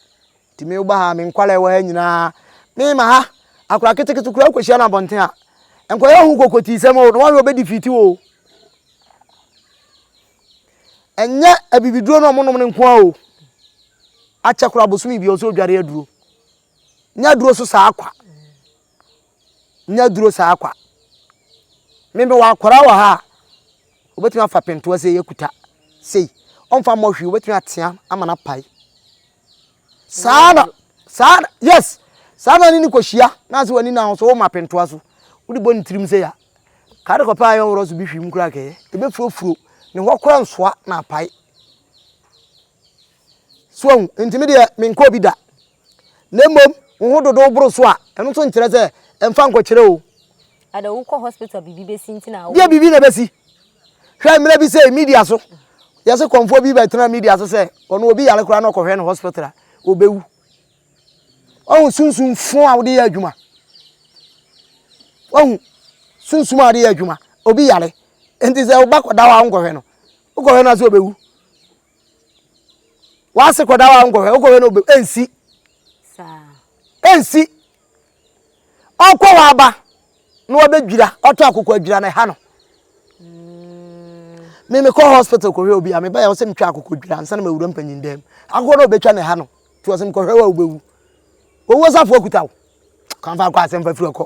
nti me woba ha me nkwala ɛwɔ ha nyinaa mema ha akora ketekete koraa kɔhyia no abɔnten a nkɔyɛ ho kɔkɔtii sɛm o na wɔne wɔbɛdi fiti o ɛnyɛ abibiduro no ɔmonom no nko a o akyɛ koraa bosome bia ɔsɛ odware aduro Nya duro so saa kwa. Nya duro saa kwa. Me me wɔ akwaraa wɔ ha a obetumi afa pentoa sei ekuta sei ɔnfa mmɔ hwee obetumi atea ama no apae. Saa na saa yes saa na ne ne kɔhyia na ase w'ani na so woma pentoa so wode bɔ ne tirim sɛ ya kaade kɔpɛ ayɛ ɔworɔ so bi hwim kora kɛɛ ɛbɛfurofuro ne hɔ kora nsoa na apae So wahu? Enti me deɛ menkɔɔ bi da. Na mmom wo ho dodow boro so a, ɛno nso nkyerɛ sɛ ɛmfa nkɔkyerɛ o. Ada wokɔ hospital a biribi bɛsi nti na wo. Deɛ biribi na ɛbɛsi. Hwɛ mmerɛ bi sei media so yɛse kɔmfoɔ bi bɛtena media so sɛ ɔno obi yare koraa na ɔkɔhwɛ no hospital a ɔbɛwu. Wahu sunsum fo a wode yɛ adwuma. Wahu sunsum a wode yɛ adwuma. Obi yare. Enti sɛ woba kɔda hɔ a wonkɔhwɛ no. Wokɔhwɛ no a sɛ ɔbɛwu. w'ase kɔda hɔ a nkɔhwɛ wokɔhwɛ no obe ɛnsi ɛnsi ɔkɔ hɔ aba na wabɛdwira ɔtɔ akoko adwira na ɛha no me mm. mekɔ hospital kɔhwɛ obi a mebɛyɛ wo sɛ metwa akoko dwira ansa na mawura mpanyin dɛm akoko na ɔbɛtwa na ɛha no nti ɔsɛ mekɔhwɛ wo a wobɛwu owuo safoɔ kuta wo kamfa akɔ asɛmfa firi ɔkɔ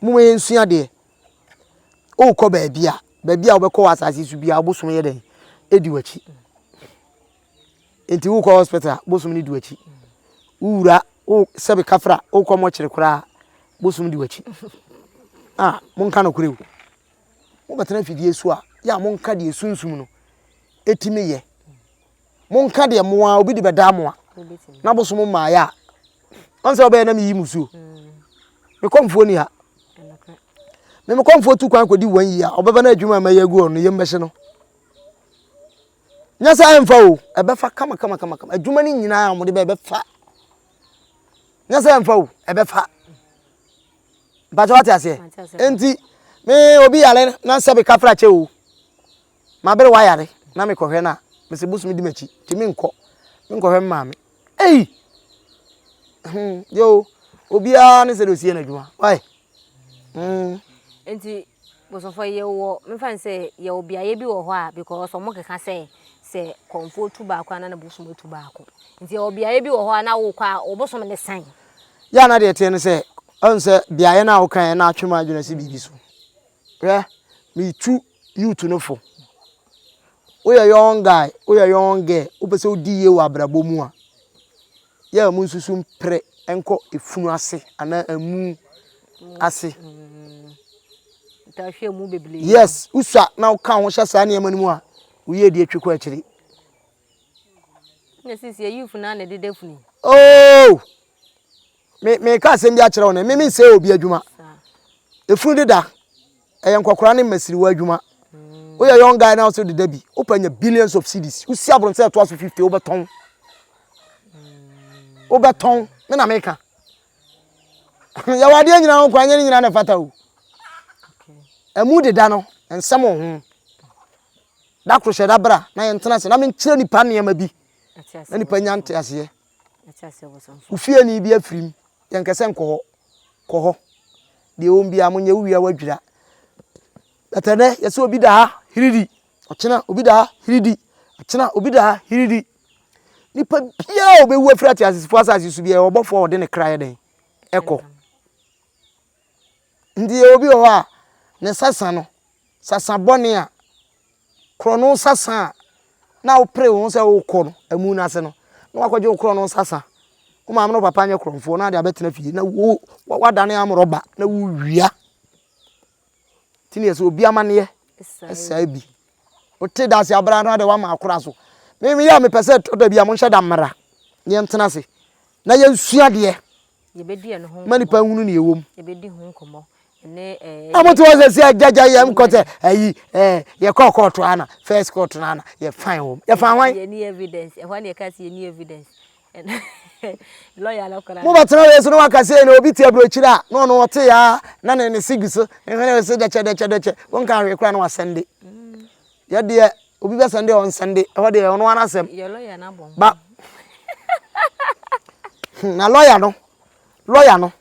Momma yɛnsua adeɛ. Wokɔ baabi a, baabi a wobɛkɔ wɔ asase so biara, bosom yɛ dɛn? Ɛdi w'akyi. Nti wokɔ hospital a, bosom no di w'akyi. Wowura, wo sɛbe kafra, wokɔ mɔkyere koraa, bosom di w'akyi. A, monka nokorɛ o. Mobɛtena afidie so a, yɛ a monka deɛ sunsum no ɛtumi yɛ. monka deɛ mo ara obi de bɛdaa mo a na bosom mmaeɛ a ɔn sɛ ɔbɛyɛ na meyi mo suo me kɔmfoɔ ni ha me me kɔmfoɔ tu kwan kɔdi wɔn yi a ɔbɛba no adwuma a mɛyɛ agu ɔno yɛm bɛhye no nyɛ sɛ ɛmfa o ɛbɛfa kama kama kama kama adwuma no nyinaa a wɔde bɛ ɛbɛfa nyɛ sɛ ɛmfa o ɛbɛfa mpakyɛ wate aseɛ nti me obi yare na sɛ meka fra kyɛ o M'abere wayare na me kɔhwɛ no a mese bosome di m'akyi nti me nkɔ me nkɔhwɛ me maame ei hmm yo obiara ne sɛ de osie n'adwuma why hmm. Nti bosomfo yɛ wɔ mefa ne sɛ yɛ wɔ beaeɛ bi wɔ hɔ a because wɔn keka sɛ sɛ kɔnfo tu baako a na na bosom tu baako nti yɛ wɔ beaeɛ bi wɔ hɔ a na wokɔ a wɔbosom ne san. Yɛ a na deɛ teɛ ne sɛ ɔn sɛ beaeɛ no a wokan na atwe mu adwene si biribi so hwɛ metu youth no fo. Woyɛ young guy, woyɛ young girl, wopɛ sɛ wodi yie wɔ abrabɔ mu a, yɛ a mu nsusu mpere nkɔ efunu ase anaa emu ase. Yes, wosua na woka ho hyɛ saa nneɛma no mu a, woyɛ di atwi kɔ akyiri. Oh! Me meka asɛm bi akyerɛ wo ne me mensɛe obi adwuma. Efunu deda ɛyɛ nkɔkora ne mmasiriwa adwuma. Mm. Woyɛ young guy na also deda bi. Wopɛ nya billions of cities. Wosi abron sɛ ɛtoa so 50 wobɛtɔn. Mm. Wobɛtɔn. Me na meka. Yɛwɔ adeɛ nyina ho kwa nyɛ ne nyina na ɛfata o. Ɛmu deda no nsɛm wɔ ho. Da koro hyɛ da bra na yɛntena ase na menkyerɛ nipa nneɛma bi na nipa nya nteaseɛ. Wo fieni bi afirim, yɛnkɛ sɛ nkɔ hɔ. Kɔ hɔ. Deɛ ɔwom biara monyɛ wo wia wadwira. But ɛnɛ yɛsɛ obi da ha hiridi. Ɔkyena obi da ha hiridi. Ɔkyena obi da ha hiridi. Nipa biara a ɔbɛwu afiri ateasefo asase so biara ɔbɔfoɔ a ɔde ne kra yɛ dɛn ɛkɔ. Nti yɛwɔ bi wɔ hɔ a ne sasa no sasa bɔne a korɔno sasa a na wopere wo ho sɛ wokɔ no amu no ase no na wakɔgye wo korɔno sasa wo maame no papa nyɛ korɔmfoɔ na ade abɛtena fie na wo wadane amorɔba na wowia nti ne yɛ sɛ obi amanneɛ ɛsaa bi wote da ase abra no ade wama akora so meme yɛ a mepɛ sɛ tɔ da bi a monhyɛ da mmara yɛntena ase na yɛnsua deɛ ma nipa nhunu nea ɛwɔ mu. Na mote hɔ sɛ sɛ gyagya yɛm kɔ sɛ ayi yɛkɔ kɔɔto ana first court no ana yɛfan wɔ m yɛfan hwan mobɛtena wei so na waka sɛ na obi te aburokyiri a na ɔno ɔte ya na ne ne sigi so nhwene sɛ dɛkyɛ dɛkyɛ dɛkyɛ wonka hwee koraa na wasɛnde Yɛ deɛ obi bɛ sɛnde ɔnsɛnde ɛhɔ deɛ ɔno ara asɛm. Yɛ lɔya na bɔ Ba hmm, na lɔya no lɔya no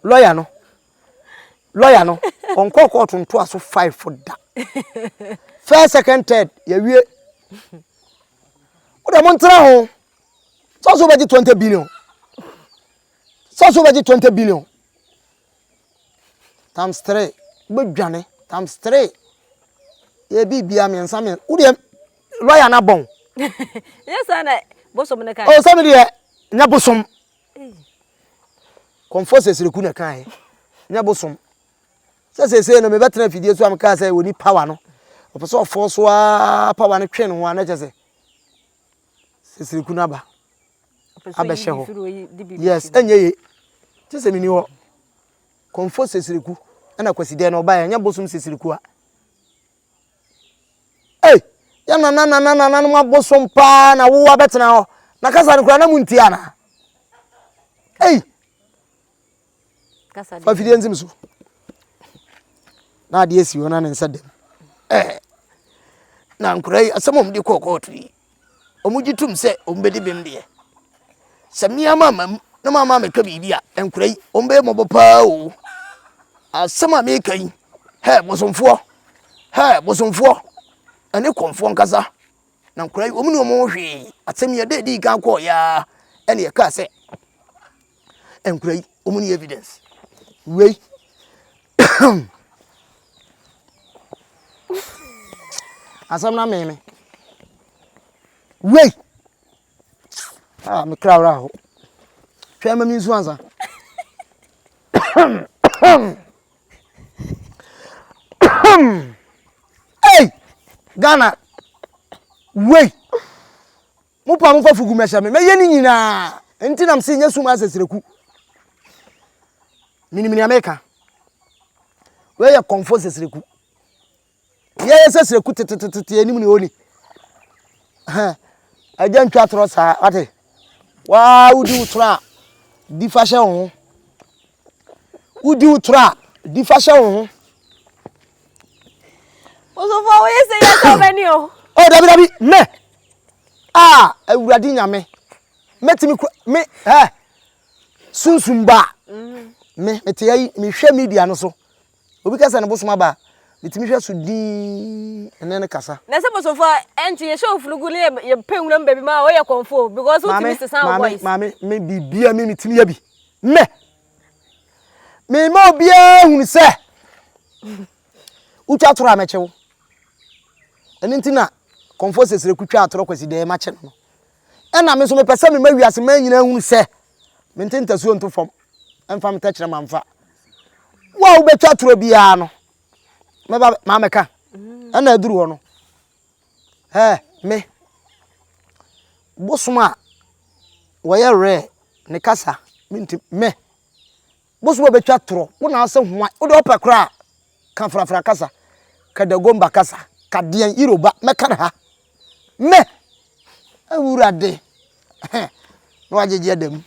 lɔya no lɔya no ɔnkɔɔ kɔɔto ntoa so five fo da first second third yɛwie wode mo ntena ho sɛ so wobɛgye 20 billion sɛ so wobɛgye 20 billion times three wobɛdwane times three yɛ biribia mmiɛnsa mmiɛnsa wodeɛ lɔya no abɔn nyɛ saa na bosom no kae ɔsɛ me deɛ nyɛ bosom confucius reku na kae nyɛ bosom sɛ seesei no mebɛtena afidie so a mekaa sɛ wɔni power no ɔpɛ sɛ ɔfɔɔ so a power no twe no ho a na kyɛ sɛ sesere kunu aba abɛhyɛ hɔ yes ɛnyɛ ye te sɛ meni hɔ kɔmfo sesere ku ɛna kwasi dɛn na ɔba yɛ ɛnyɛ bosom sesere ku a ei yɛ nana nana nana no abosom paa na wowa bɛtena hɔ na kasa no kura na mu nti ana ei Fa fidie ntim so. Na adeɛ si hɔ na ne nsa dam. Ɛɛ na nkwadaa yi asɛm a wɔde kɔɔ kɔɔto yi wɔgye tom sɛ wɔbɛdi bem deɛ sɛ mmea ma ma mu na ma ma meka biribi a nkora yi wɔbɛyɛ mmɔbɔ paa o asɛm a meka yi hɛ bosomfoɔ hɛ bosomfoɔ ɛne kɔmfoɔ nkasa na nkora yi wɔn ne wɔn hwee asɛm yi ɛdɛ ɛdi kan kɔɔ yaa ɛne ɛkaa sɛ ɛnkura yi wɔn ni evidence wei asɛm na meme wei a ah, mekra wora ho hwɛ ma me nsu ansa ei ghana wei Mo paa mo fa fugu mɛhyɛ me mɛyɛ ne nyinaa nti nam se nyɛ sum asɛ sreku menim nea meka wei yɛ kɔnfo sɛ sreku yɛyɛ sɛ sreku tetetetete anim ne oni agya ntwa torɔ saa wate waa wodi wo torɔ a di fa hyɛ wo ho Wodi wo toro a, di fa hyɛ wo ho. Osofo wo yɛ sɛ yɛ sɛ ɔbɛni o. Ɔ dabi dabi mɛ. Ah, awurade nyame. Mɛtumi kura me ɛ. Sunsum ba. Mm-hmm. Me mete ayi mehwɛ media no so. Obi ka sɛ ne bosom aba a, metumi hwɛ so dinn ne no kasa. Na sɛ bosomfo a, ɛnte yɛhyɛ wo funugu ne yɛ pɛ nwura mu baabi ma a, woyɛ kɔmfo o because wotumi sesa wo voice. Maame, maame, me biribiara me metumi yɛ bi. Me! Mema obiara hunu sɛ wotwa toro a mɛkye wo. Ɛno nti na kɔmfo sesere kutwa atoro kwasi dɛɛ makye no no. Ɛna me nso mepɛ sɛ mema wiase man nyinaa hunu sɛ mente ntasuo nto fam mfa me tɛkyerɛma mfa. Wo a wobɛtwa torɔ biara no, mɛba mamɛka. Ɛna aduru hɔ no, ɛ me bosom a wɔyɛ rare ne kasa menti me. Wo so wobɛtwa torɔ, wo na ase hwan? Wo deɛ wopɛ koraa a, ka frafra kasa, ka Dagomba kasa, ka deɛn Yoruba, mɛka no ha. Me, Awurade, he, na wagyegye ada mu.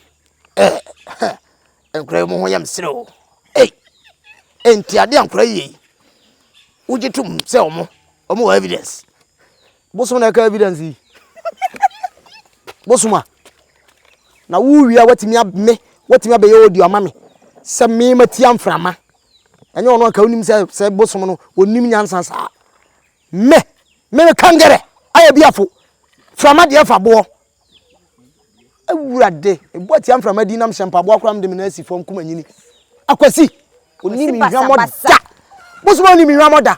Eh, he, nkora yi mo ho yɛ me serɛ o. Ei, enti adeɛ a nkora yi yɛ yi, wogye tom sɛ wɔn, wɔn wɔ evidence? Bosom na ɛka evidence yi. Bosom a. Na wowie a watumi me watumi abɛyɛ audio ama me sɛ me matia mframa. Ɛnyɛ ɔno anka wonim sɛ sɛ bosom no onim nyansa saa. Me me kangere ayɛ biafo. Frama deɛ fa boɔ. Awurade, ebu atia mframa di nam hyɛ mpaboa koraa mede me nan asi fam kuma nyini. Akwasi, onim nhwamɔ da. Bosom onim nhwamɔ da.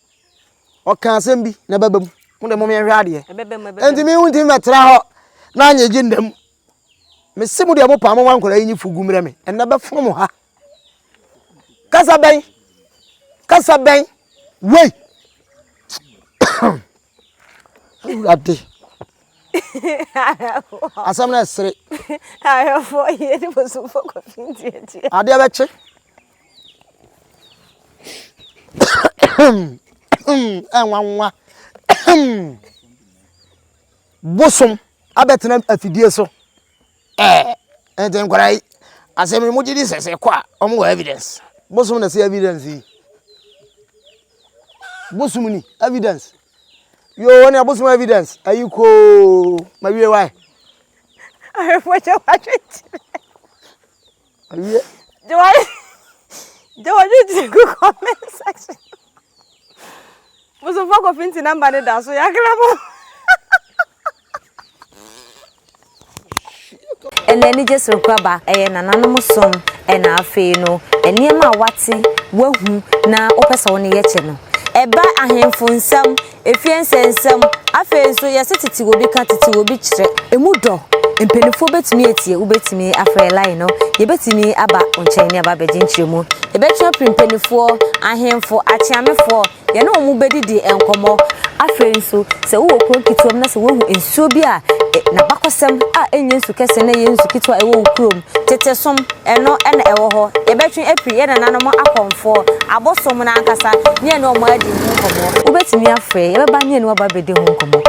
ɔka asɛm bi na ɛbɛba mu mo de mo yɛhwɛ adeɛ ɛnti mi ntumi mɛtra hɔ na anyɛ gye nnam mese mo deɛ mo paa mo ma nkwadaa yi nyi fugu mmerɛ me ɛnna bɛfono mo ha kasa bɛn kasa bɛn wei awurade asɛm no ɛsere adeɛ bɛkye nwanwa bosom abɛtena afidie so ɛɛ ɛnti nkwadaa yi asɛm yi mo gye di sɛ sɛ ɛkɔ a wɔn wɔ evidence bosom na si evidence yi bosom ni evidence yoo ɛna bosom evidence ɛyi koo ma wie wae. ahwɛfoɔ kyɛ wɔatwe nkyerɛ. Ɔyɛ. Jawari Jawari ti gu comment section. Musumfo kofi nti namba ne da so yakra mo. Ɛnna anigye serew aba. Ɛyɛ nananom som na afei no nneɛma a woate, woahu na wopɛ sɛ wo ne yɛkyɛ no. Ɛba ahemfo nsam. Efie nsɛnsɛm. Afei nso, yɛse tete obi ka, tete obi kyerɛ. Emu dɔ. Mpanimfoɔ bɛtumi atie, wobɛtumi afrɛ line no, yɛbɛtumi aba wo nkyɛn ne aba abɛgye nkyerɛmu. Yɛbɛtwe afiri mpanimfoɔ, ahemfo, akyeamefoɔ, yɛne wɔn bɛdidi nkɔmmɔ. Afei nso, sɛ wowɔ kuro nketewa mu na sɛ woahu nsuo bi a n'abakɔsɛm a ɛnyɛ nsu kɛseɛ na ɛyɛ nsu ketewa a ɛwɔ wo kurom Tete som, ɛno na ɛwɔ hɔ. Yɛbɛtwe afiri yɛn nananom akɔmfoɔ, abosom no ankasa, ne yɛne wɔn adi ho nkɔmmɔ. Wobɛtumi afrɛ yɛn, yɛbɛba ne yɛne wo aba abɛdi ho nkɔmmɔ.